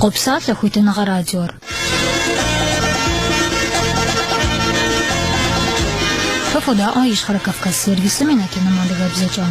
Къопсалъэ хуитыныгъэ радиор. Фэ фодаӏуэ Ищхъэрэ Кавказ сервисым и нэтыным адыгэбзэкӏэ.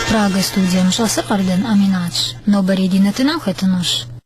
Прага студием щӏэсыр Къардэн Аминатщ. Нобэрей ди нэтыным хэтынущ.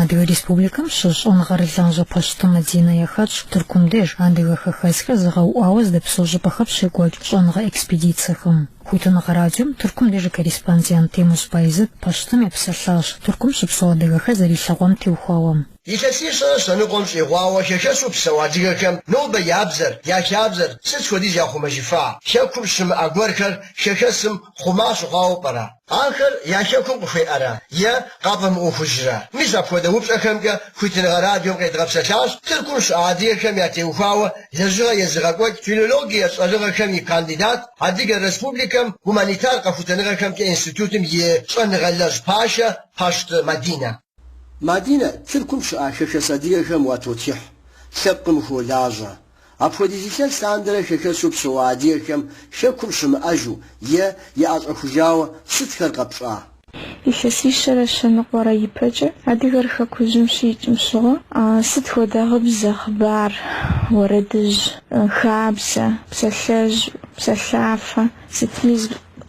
Адыгэ Республикэм щыщ щӏэныгъэрылажьэ Пащты Мадинэ яхэтщ Тыркум деж, адыгэ хэхэсхэр зэгъэуӏуауэ здэпсэу щӏыпӏэхэм щекӏуэкӏ щӏэныгъэ экспедицэхэм. Хуитыныгъэ радиом Тыркум деж и корреспондент Темуз Байзэт Пащтым епсэлъащ, Тыркум щыпсэу адыгэхэр зэрилъэгъуам теухуауэ. Илъэсищэрэ щэныкъуэм щӏигъуауэ хэхэсу псэу адыгэхэм нобэ я бзэр, я хабзэр сыт хуэдиз яхъумэжыфа? Хэкум щымыӏэ гуэрхэр хэхэсым хъума щыхъуауэ пӏэрэ? Ахэр я хэкум къыхуеӏэра е къафӏэмыӏуэхужра? Мис апхуэдэ упщӏэхэмкӏэ хуитыныгъэ радиом къедгъэпсэлъащ Тыркум щыӏэ адыгэхэм ятеухуауэ лэжьыгъэ езыгъэкӏуэкӏ филологие щӏэныгъэхэм и кандидат, Адыгэ Республикэм гуманитар къэхутэныгъэхэмкӏэ институтым и щӏэныгъэлэжь пашэ Пащты Мадинэ. Мадинэ, Тыркум щыӏэ хэхэс адыгэхэм уатотхыхь, лъэпкъым ухуолажьэ. Апхуэдиз илъэс лъандэрэ хэхэсу псэу адыгэхэм Хэкум щымыӏэжу е яӏэщӏэхужауэ сытхэр къэпщӏа? Илъэсищэрэ щэныкъуэрэ ипэкӏэ адыгэр Хэкужьым щикӏым щыгъуэ сыт хуэдэ гъыбзэ, хъыбар, уэрэдыжь, хабзэ, псалъэжь, псалъафэ, Сытми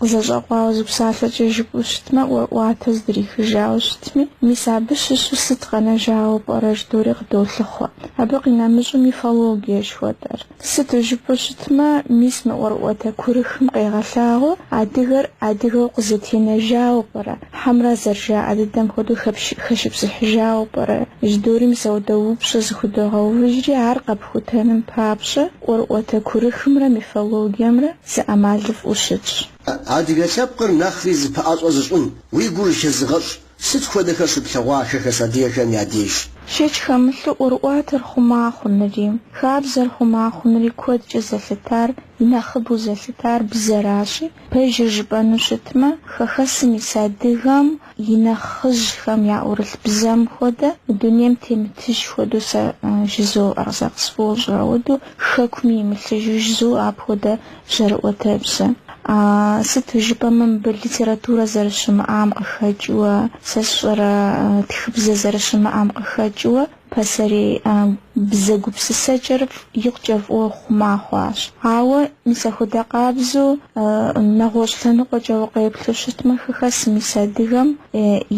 зэщӏэкъуауэ зы псалъэкӏэ жыпӏэу щытмэ, ӏуэрыӏуатэ здрихыжауэ щытми, мис абы щыщу сыт къэнэжауэ пӏэрэ жыдори къыдолъыхъуэ. Абы къинэмыщӏу мифологие жыхуэтӏэр. Сыту жыпӏэу щытмэ, мис мы ӏуэрыӏуатэ курыхым къегъэлъагъуэу адыгэр адыгэу къызэтенэжауэ пӏэрэ? Хьэмрэ зэрыжаӏэ дыдэм хуэдэу хэщыпсыхьыжауэ пӏэрэ? Жыдори мис ауэдэ упщӏэ зыхудогъэувыжри, ар къэпхутэным папщӏэ ӏуэрыӏуэтэ курыхымрэ мифологиемрэ зы ӏэмалыфӏу щытщ. Адыгэ лъэпкъыр нэхъри зэпэӏэщӏэ зыщӏын уи гур хэзыгъэщӏ сыт хуэдэхэр щыплъэгъуа хэхэс адыгэхэм я деж? Шэч хэмылъу ӏуэрыӏуатэр хъума хъунури, хабзэр хъума хъунури куэдкӏэ зэлъытар Нэхъыбэу зэлъытар бзэращи, пэжыр жыпӏэну щытмэ, хэхэсым ис адыгэм и нэхъыжьхэм яӏурылъ бзэм хуэдэ, мы дунейм темытыж хуэдэу сэ жызоӏэр, сэ къысфӏощӏыр ауэдэу, хэкуми имылъыжу жызо апхуэдэ жьэрыӏуэтэбзэ. Сыту жыпӏэмэ, мыбы литературэ зэрыщымыӏам къыхэкӏыуэ, сэ сщӏэрэ тхыбзэ зэрыщымыӏам къыхэкӏыуэ, Пасэрей а бзэ гупсысэкӏэр икъукӏэ фӏыуэ хъума хъуащ. Ауэ мис ахуэдэ къабзэу, нэгъуэщӏ лъэныкъуэкӏэ укъеплъу щытмэ, хэхэсым ис адыгэм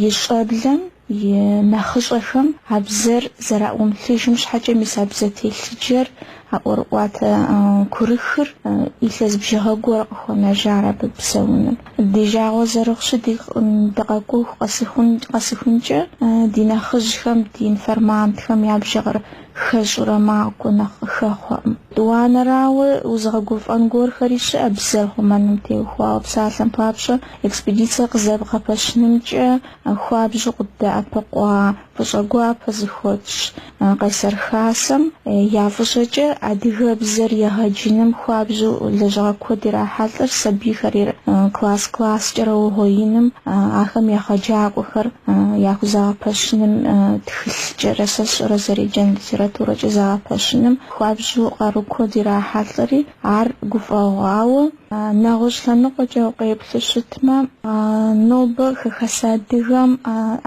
и щӏэблэм и нэхъыщӏэхэм а бзэр зэраӏумылъыжым щхьэкӏэ мис а бзэ телъыджэр А ӏуэрыӏуатэ курыхыр илъэс бжыгъэ гуэр къыхуэнэжар абы псэуным. Ди жагъуэ зэрыхъущи, дыкъэкӏуэху къэсыхункӏэ, ди нэхъыжьхэм, ди информантхэм я бжыгъэр хэщӏурэ макӏуэ нэхъ къыхэхъуэкъым. Тӏуанэрауэ, узыгъэгуфӏэн гуэрхэри щыӏэ бзэр хъумэным теухуауэ. Псалъэм папщӏэ, экспедицэ къызэбгъэпэщынымкӏэ хуабжьу къыддэӏэпыкъуа Фӏыщӏэ гуапэ зыхуэтщӏ Къайсэр Хасэм я фӏыщӏэкӏэ адыгэбзэр егъэджыным хуабжьу лэжьыгъэ куэд ирахьэлӏэр сабийхэр класс-класскӏэрэ угъуеиным, ахэм егъэджакӏуэхэр яхузэгъэпэщыным, тхылъкӏэрэ, сэ сщӏэрэ, зэреджэн литературэкӏэ зэгъэпэщыным хуабжьу къару куэд ирахьэлӏэри, ар гуфӏэгъуауэ, Нэгъуэщӏ лъэныкъуэкӏэ укъеплъу щытмэ, нобэ хэхэс адыгэм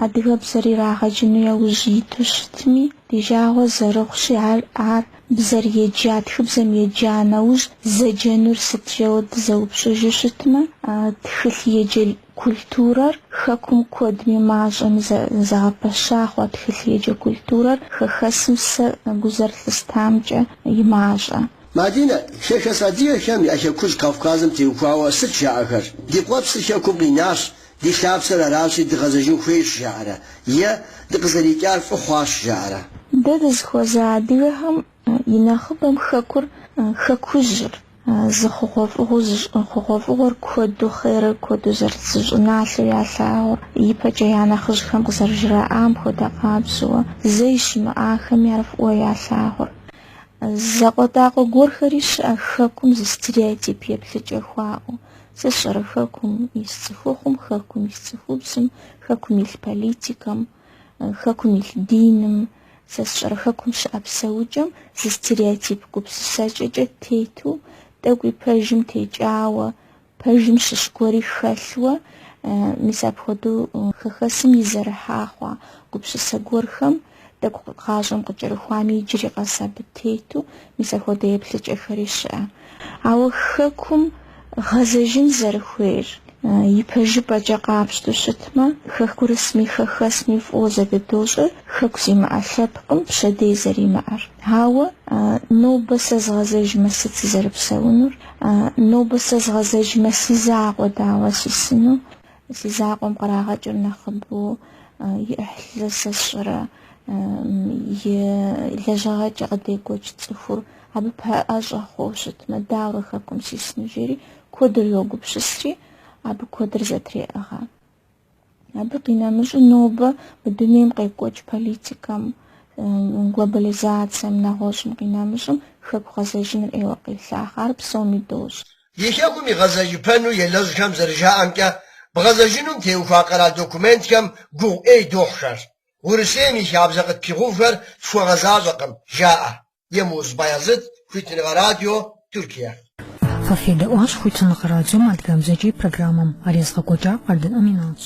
адыгэбзэр ирагъэджыну яужь иту щытми, ди жагъуэ зэрыхъущи, ар ар бзэр еджа, тхыбзэм еджа нэужь зэджэнур сыт жэуэ дызэупщӏыжу щытмэ, тхылъ еджэ культурэр хэкум куэдми мащӏэми зэгъэпэща хъуа тхылъ еджэ культурэр хэхэсым сэ гу зэрылъыстамкӏэ и мащӏэ. Мадинэ, хэхэс адыгэхэм я Хэкужь Кавказым теухуауэ сыт жаӏэхэр? Ди къуэпсыр Хэкум къинащ, ди лъапсэр аращи дыгъэзэжын хуейщ жаӏэрэ? Е дыкъызэрикӏар фӏы хъуащ жаӏэрэ? Дэ дызыхуэза адыгэхэм и нэхъыбэм Хэкур, Хэкужьыр, зы хъугъуэфӏыгъуэу зы щӏын, хъугъуэфӏыгъуэр куэду, хъерыр куэду зэрыт зы щӏыналъэу ялъагъур, ипэкӏэ я нэхъыжьхэм къызэрыжраӏам хуэдэ къабзэуэ, зэи щымыӏахэми ар фӏыуэ ялъагъур. Закъуэтӏакъуэ гуэрхэри щыӏэ хэкум зы стереотип еплъыкӏэ хуаӏэу. Сэ сщӏэрэ хэкум ис цӏыхухъум, хэкум ис цӏыхубзым, хэкум илъ политикэм, хэкум илъ диным, сэ сщӏэрэ хэкум щыӏэ псэукӏэм зы стереотип гупсысэкӏэкӏэ тету, тӏэкӏуи пэжым текӏауэ, Пэжым щыщ гуэри хэлъуэ, мис апхуэдэу хэхэсым изэрыхьа хъуа гупсысэ гуэрхэм, тӏэкӏу гъащӏэм къыкӏэрыхуами иджыри къэс абы тету, мис ахуэдэ еплъыкӏэхэри щыӏэ. Ауэ Хэкум гъэзэжын зэрыхуейр ипэжыпӏэкӏэ къапщту щытмэ, хэкурысми хэхэсми фӏыуэ зэдыдощӏэр Хэку зимыӏэ лъэпкъым пщэдей зэримыӏэр. Ауэ нобэ сэ згъэзэжмэ сыт сызэрыпсэунур? Нобэ сэ згъэзэжмэ, си закъуэ дауэ сисыну, си закъуэм кърагъэкӏыр нэхъыбэу и ӏыхьлы сэ сщӏэрэ, и лэжьыгъэкӏэ къыдекӏуэкӏ цӏыхур абы пэӏэщӏэ хъууэ щытмэ, дауэрэ хэкум сисыну, жери куэдыр йогупсысри, абы куэдыр зэтреӏыгъэ. Абы къинэмыщӏу нобэ мы дунейм къекӏуэкӏ политикэм, глобализацэм, нэгъуэщӏым къинэмыщӏым хэку гъэзэжыныр ӏейуэ къелъахъэ. Ар псоми дощӏ. И хэкум игъэзэжыпэну елэжьхэм зэрыжаӏэмкӏэ, бгъэзэжынум теухуа къэрал документхэм гугъу ӏей дохьхэр. Урысейм и хабзэ къытпигъэувхэр тхуэгъэзащӏэкъым, жаӏэ. Емуз Баязыт, Хуитыныгъэ радио, Тыркие. Фэ федэӏуащ Хуитыныгъэ радиом адыгэбзэкӏэ и программэм. Ар езыгъэкӏуэкӏар Къардэн Аминатщ.